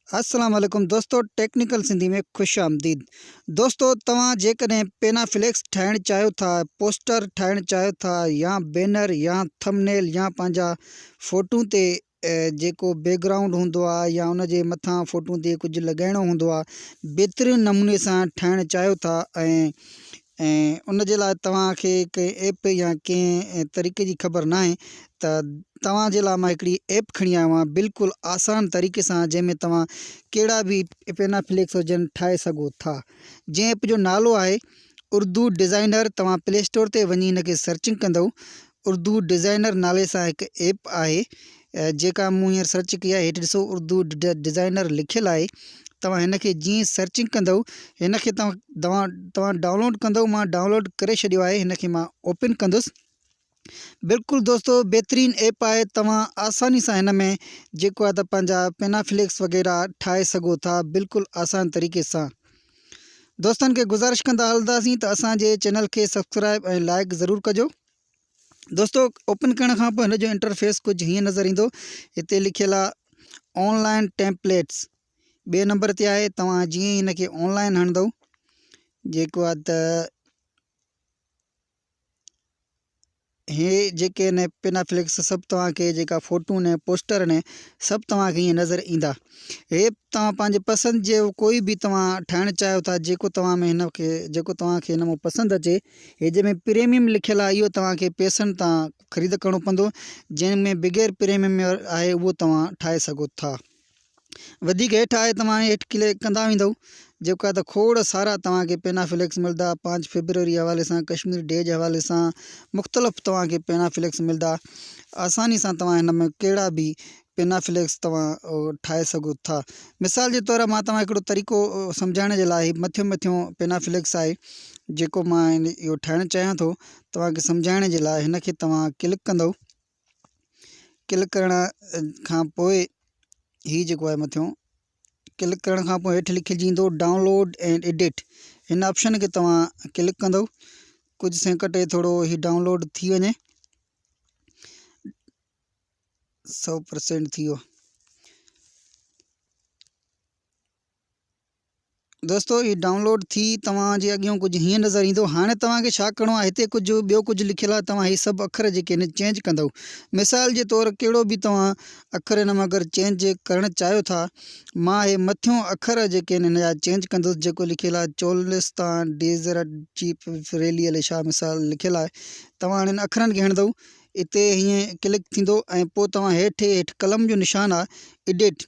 السلام عليڪم دوستو ٽيڪنيڪل سنڌي ۾ خوش آمديد دوستو توهان جيڪڏهن پينا فليڪس ٺاهڻ چاهيو ٿا پوسٽر ٺاهڻ چاهيو ٿا يا بينر يا ٿم نيل يا پنهنجا فوٽو تي جيڪو بيڪ گرائونڊ هوندو آهي يا ان جي مٿان فوٽو تي ڪجهه لڳائڻو هوندو آهي بهترين نموني سان ٺاهڻ چاهيو ٿا ۽ ۽ ان جي لاء توهان کي ڪنهن ايپ يا ڪنهن طريقي جي خبر ناهي ته توهان جي لاء مان هڪڙي ايپ کڻي آيو آهيان بلڪل آسان طريقي سان جنهن ۾ توهان ڪهڙا به پينا فليڪس هجن ٺاهي سگهو ٿا جنهن ايپ جو نالو آهي اردو ڊزائنر توهان پلي اسٽور تي وڃي هن کي سرچنگ ڪندو اردو ڊزائنر نالي سان هڪ ايپ آهي جيڪا مون هينئر سرچ ڪئي آهي هيٺ ڏسو اردو ڊزائنر لکيل آهي توهان هن کي جيئن سرچنگ ڪندؤ هن کي توهان توهان توهان ڊائونلوڊ ڪندؤ مان ڊائونلوڊ ڪري ڇڏيو آهي هن کي مان اوپن ڪندس بلڪل دوستو بهترين ايپ آهي توهان آساني سان هن ۾ جيڪو آهي ته پنهنجا پينا فليڪس وغيره ٺاهي سگهو ٿا بلڪل آسان طريقي سان دوستن کي گذارش ڪندا هلنداسين ته اسان جي چينل کي سبسڪرائب ۽ لائڪ ضرور ڪجو دوستو اوپن ڪرڻ کان پوء هن جو انٽرفيس ڪجهه هيئن نظر ايندو هتي لکيل آهي آن لائن ٽيمپليٽس ٻئي نمبر تي آهي توهان جيئن هن کي آن لائن هڻندو جيڪو آهي ته هي جيڪي ني پنا فليڪس سڀ توهان کي جيڪا فوٽو ني پوسٽر ني سڀ توهان کي نظر ايندا هي توهان پنهنجي پسند جي ڪوئي به توهان ٺاهڻ چاهيو ٿا جيڪو توهان ۾ هن کي جيڪو توهان کي نمو پسند اچي هي جنهن ۾ پريميم لکيل آهي اهو توهان کي پيسن تان خريد ڪرڻو پوندو جنهن ۾ بغير پريميم آهي اهو توهان ٺاهي سگهو ٿا وڌيڪ هيٺ آهي توهان هيٺ ڪلڪ ڪندا ويندو جيڪا ته کوڙ سارا توهان کي پينا فليڪس ملدا پانچ فيبروري حوالي سان ڪشمير ڊي جي حوالي سان مختلف توهان کي پينا فليڪس ملدا آساني سان توهان هن ۾ ڪهڙا به پينا فليڪس توهان ٺاهي سگهو ٿا مثال جي طور مان توهان هڪڙو طريقو سمجهائڻ جي لاء مٿيون مٿيون پينا فليڪس آهي جيڪو مان اهو ٺاهڻ چاهيان ٿو توهان کي سمجهائڻ جي لاء هن کي توهان ڪلڪ ڪندو ڪلڪ ڪرڻ کان پوء هي جيڪو آهي مٿيون ڪلڪ ڪرڻ کان پوء هيٺ لکيل جي ايندو ڊائونلوڊ اينڊ ايڊٽ هن آپشن کي توهان ڪلڪ ڪندو ڪجهه سيڪنڊ ٿورو هي ڊائونلوڊ ٿي وڃي سو پرسنٽ ٿي ويو دوستو هي ڊائونلوڊ ٿي توهان جي اڳيون ڪجهه هيئن نظر ايندو هاڻي توهان کي ڇا ڪرڻو آهي هتي ڪجهه ٻيو ڪجهه لکيل آهي توهان هي سڀ اکر جيڪي آهن چينج ڪندو مثال جي طور ڪهڙو به توهان اکر هن ۾ اگر چينج ڪرڻ چاهيو ٿا مان هي مٿيون اکر جيڪي آهن هن جا چينج ڪندس جيڪو لکيل آهي چولستان ڊيزرٽ جيپ فريلي علي شاهه مثال لکيل آهي توهان هنن اکرن کي هڻندو اتي هيئن ڪلڪ ٿيندو ۽ پوء توهان هيٺ هيٺ قلم جو نشان آهي ايڊيٽ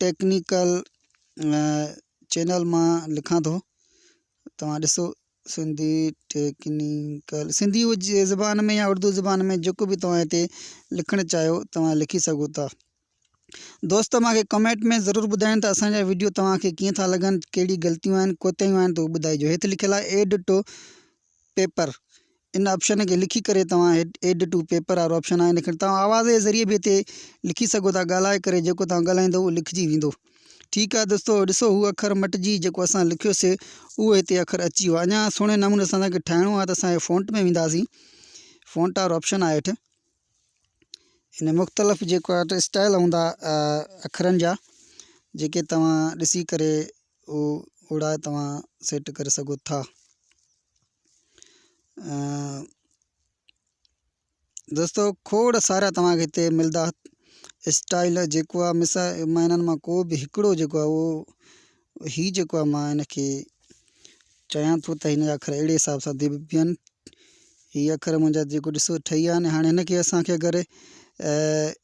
ٽيڪنيڪل چينل مان لکان ٿو توهان ڏسو سنڌي ٽيڪنيڪل سنڌي جي زبان ۾ يا اردو زبان ۾ جيڪو بي توهان هتي لکڻ چاهيو توهان لکي سگهو ٿا دوست مانکي ڪمينٽ ۾ ضرور ٻڌائين ته اسان جا ويڊيو توهان کي ڪيئن ٿا لڳن ڪهڙي غلطيون آهن ڪوتاهيون آهن تو ٻڌائجو هيت لکيل آهي ايڊ ٽو پيپر ان آپشن کي لکي ڪري توهان ايڊ ٽو پيپر وارو آپشن آهي لکڻ توهان آواز جي ذريعي به هتي لکي سگهو ٿا ڳالهائي ڪري جيڪو توهان ڳالهائيندو اهو لکجي ويندو ٺيڪ آهي دوستو ڏسو هو اکر مٽجي جيڪو اسان لکيوسي اهو هتي اکر اچي ويو اڃا سهڻي نموني اسان کي ٺاهڻو آهي ته اسان فونٽ ۾ وينداسين فونٽ وارو آپشن آهي هيٺ ان مختلف جيڪو آهي اسٽائل هوندا اکرن جا جيڪي توهان ڏسي ڪري اهو اوڙا توهان سيٽ ڪري سگهو ٿا دوستو کوڙ سارا توهانکي هتي ملدا اسٽائل جيڪو آهي مس مان هنن مان ڪو به هڪڙو جيڪو آهي اهو هي جيڪو آهي مان هنکي چيان ٿو ته هنجا اکر اهڙي حساب سان دي بيهن هي اکر منهنجا جيڪو ڏسو ٺهي ويا آهن هاڻي هنکي اسانکي اگر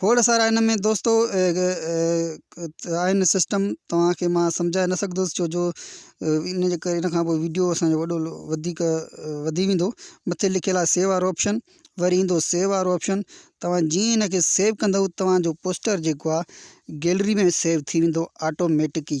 کوڙ سارا ان ۾ دوستو آهن سسٽم توهانکي مان سمجهائي نه سگهندس ڇو جو ان جي ڪري ان کان پوء ويڊيو اسانجو وڏو وڌيڪ وڌي ويندو مٿي لکيل آهي سيو وارو آپشن وري ايندو سيو وارو آپشن توهان جيئن ان کي سيو ڪندو توهانجو پوسٽر جيڪو آهي گيلري ۾ سيو ٿي ويندو آٽوميٽڪ ئي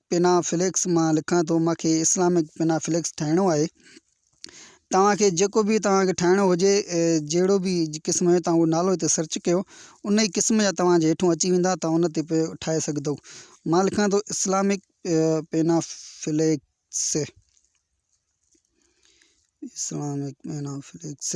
پنا فليڪس مان لکان ٿو مان کي اسلامڪ پنا فليڪس ٺاهڻو آهي توهان کي جيڪو به توهان کي ٺاهڻو هجي جهڙو به قسم جو توهان نالو هتي سرچ ڪيو ان ئي قسم جا توهان جي هيٺون اچي ويندا توهان ان تي پيو ٺاهي سگهندو مان لکان ٿو Islamic panaflex Islamic panaflex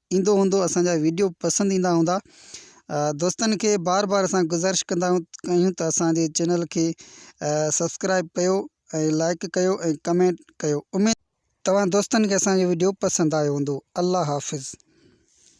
ايندو هوندو اسان جا ويڊيو پسند ايندا هوندا دوستن کي بار بار اسان گزارش ڪندا آهيون ته اسان جي چينل کي سبسڪرائب ڪيو ۽ لائڪ ڪيو ۽ ڪمينٽ ڪيو اميد توهان دوستن کي اسان جو ويڊيو پسند آيو هوندو الله حافظ